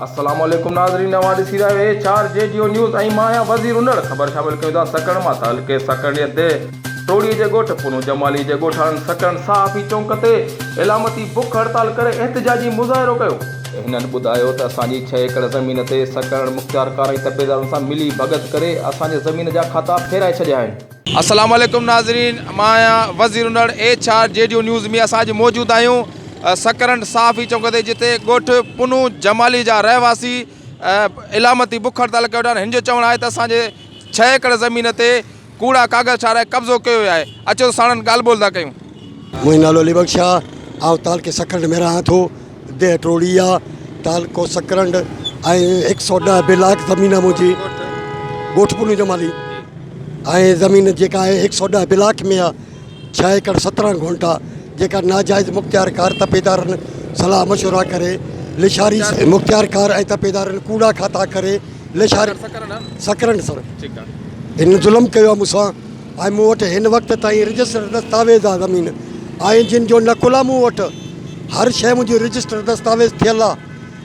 السلام عليڪم ناظرين اوهان ڏسي رهيا آهيو H R G Geo news ۽ مان آهيان وزير انڙ خبر شامل ڪيون ٿا سڪڻ مان تعلقي سڪڻيء تي ٽوڙي جي ڳوٺ پونو جمالي جي ڳوٺاڻن سڪڻ صحافي چونڪ تي علامتي بک هڙتال ڪري احتجاجي مظاهرو ڪيو هنن ٻڌايو ته اسان جي ڇهه ايڪڙ زمين تي سڪڻ مختيارڪار ۽ تپيدارن سان ملي ڀڳت ڪري اسان جي زمين جا کاتا ڦيرائي ڇڏيا آهن. السلام عليڪم ناظرين مان آهيان وزير انڙ ايڇ آر جيڊيو نيوز ۾ اسان اڄ موجود آهيون سڪرنڊ صحافي چونڪ تي جتي ڳوٺ پنهون جمالي جا رهواسي علامتي بک هڙتال ڪيو ويٺا آهن هن جو چوڻ آهي ته اسان جي ڇهه ايڪڙ زمين تي ڪوڙا ڪاغذ ٺاهرائي قبضو ڪيو ويو آهي، اچو ته ساڻن ڳالهه ٻولهه ٿا ڪيون. منهنجو نالو علي بخش آ، آئون تعلقي سڪرنڊ ۾ رهان ٿو، ديهه ٽوڙي آ، تعلقو سڪرنڊ ۽ هڪ سؤ ڏهه بلاڪ زمين آ منهنجي، ڳوٺ پنو جمالي ۽ زمين جيڪا آهي هڪ سؤ ڏهه بلاڪ ۾ آ. ڇهه ايڪڙ سترهن گهونٽا جيڪا ناجائز مختيارڪار تپيدارن صلاح مشورا ڪري لشاري مختيارڪار ۽ تپيدارن ڪوڙا کاتا ڪري لشاري سڪرنڊ سر هن ظلم ڪيو آهي مون سان ۽ مون وٽ هن وقت تائين رجسٽر دستاويز آهي زمين آهن جن جو نقل آهي مون وٽ هر شيء منهنجي رجسٽر دستاويز ٿيل آهي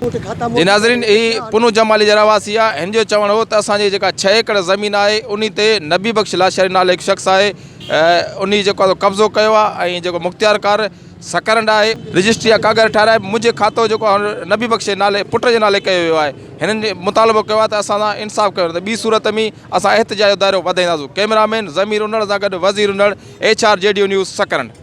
جي ناظرين هي پنو جمالي جي رهواسي آ هن جو چوڻ هو ته اسان جي جيڪا ڇهه ايڪڙ زمين آهي انهي تي نبي بخش لاشاري نالي هڪ شخص آهي انهي جيڪو آ قبضو ڪيو آ ۽ جيڪو مختيارڪار سڪرنڊ آهي رجسٽري جا ڪاغر ٺهرائي منهنجي کاتو جيڪو آ نبي بخش جي نالي پٽ جي نالي ڪيو ويو آهي هنن مطالبو ڪيو آ ته اسان سان انصاف ڪيو ته ٻي صورت ۾ اسان احتجاج جو دائرو وڌائينداسون ڪئميرا مين ضمير انڙ سان گڏ وزير انڙ ايڇ آر جي ڊيو نيوز سڪرنڊ.